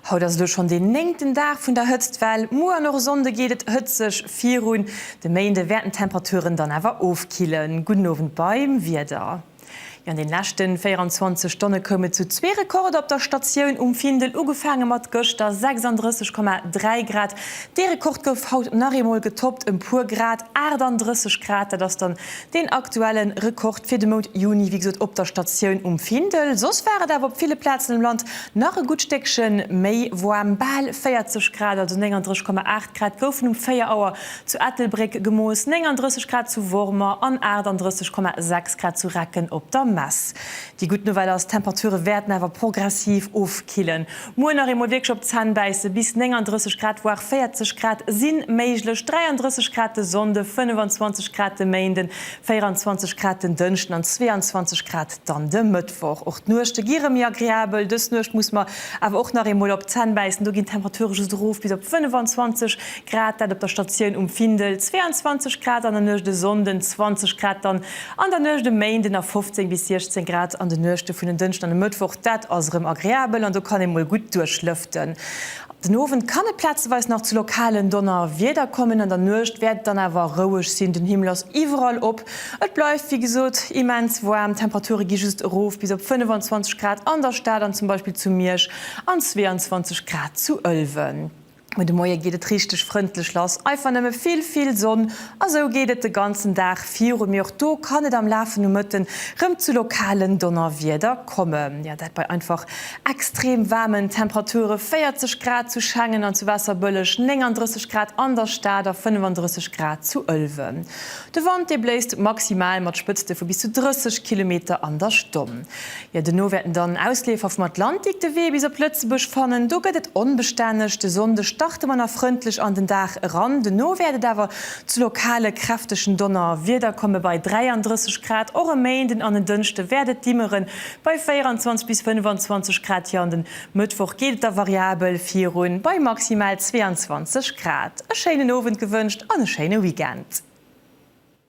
Haut ass elo schonn deen néngten Dag vun der Hëtztwell. Muer an och e Sonnde geet et hëtzeg virun. De Méinde wäerten d'Temperaturen dann awer ofkillen. Gudden Owend beim Wieder. Jo an den leschten 24 Stonne koum et zu zwee Rekorder op der Statioun um Findel, ugefaange mat gëschter 36,3 Grad. Dee Rekord gouf haut nach eemol getoppt, ëm puer Grad, 38 Grad, dat ass dann deen aktuelle Rekord fir de Mount Juni, wéi gesot op der Statioun um Findel. Soss war et awer op ville Plazen am Land nach e gutt Stéckche méi woarm, bal 40 Grad, also 39,8 Grad goufen um 4 Auer zu Ettelbréck gemooss, 39 Grad zu Wormer an 38,6 Grad zu Recken op der Mess. Déi gutt Nouvelle ass, d'Temperature wäerten awer progressiv ofkillen. Muer nach eemol wierklech op d'Zänn bäisse, bis 39 Grad, voire 40 Grad si méiglech, 33 Grad de Sonnde, 25 Grad de Méinden, 24 Grad den Dënschden an 22 Grad dann de Mëttwoch. Och d'Nuechte gi rëm méi agreabel, dës Nuecht musse mer awer och nach eemol op d'Zänn bäissen, do ginn d'Temperature just erof bis op 25 Grad dat op der Statioun um Findel, 22 Grad an der Nuecht e Sonnden, 20 Grad dann an der Nuecht e Méinden a 15 bis 16 Grad an de Nuechte vun en Dënschden an e Mëttwoch. Dat ass erëm agreabel an do kann ee mol gutt duerchlëften. Den Owend kann et plazeweis nach zu lokalen Donnerwieder kommen, an der Nuecht wäert et dann awer roueg sinn. Den Himmel ass iwwerall op, et bleift wéi gesot immens waarm, d'Temperature gi just erof bis op 25 Grad an der Stad an zum Beispill zu Miersch an 22 Grad zu Ëlwen. Mee de Moie geet et richteg frëndlech lass, einfach nëmme vill, vill Sonn a sou geet et de ganzen Dag viru. Mee och do kann et am Laf vun de Mëtte rem zu lokalen Donnerwieder kommen. Jo, dat bei einfach extrem waarmen Temperature, 40 Grad zu Schengen an zu Waasserbëlleg, 39 Grad an der Stad a 35 Grad zu Ëlwen. De Wand, dee bléist maximal mat Spëtzte vu bis zu 30 Kilometer an der Stonn. Jo, dono wäerten dann Ausleefer vum Atlantik de Wee bis op Lëtzebuerg fannen. Do gëtt et onbestänneg. De Sonnde starte mer nach frëndlech an den Dag eran, dono wäert et awer zu lokale kräftegen Donnerwieder komme bei 33 Grad. Och e Méinden an en Dënschde wäert et dimmeren, bei 24 bis 25 Grad. Hir an den Mëttwoch geet et da variabel virun, bei maximal 22 Grad. E schéinen Owend gewënscht an e schéine Weekend.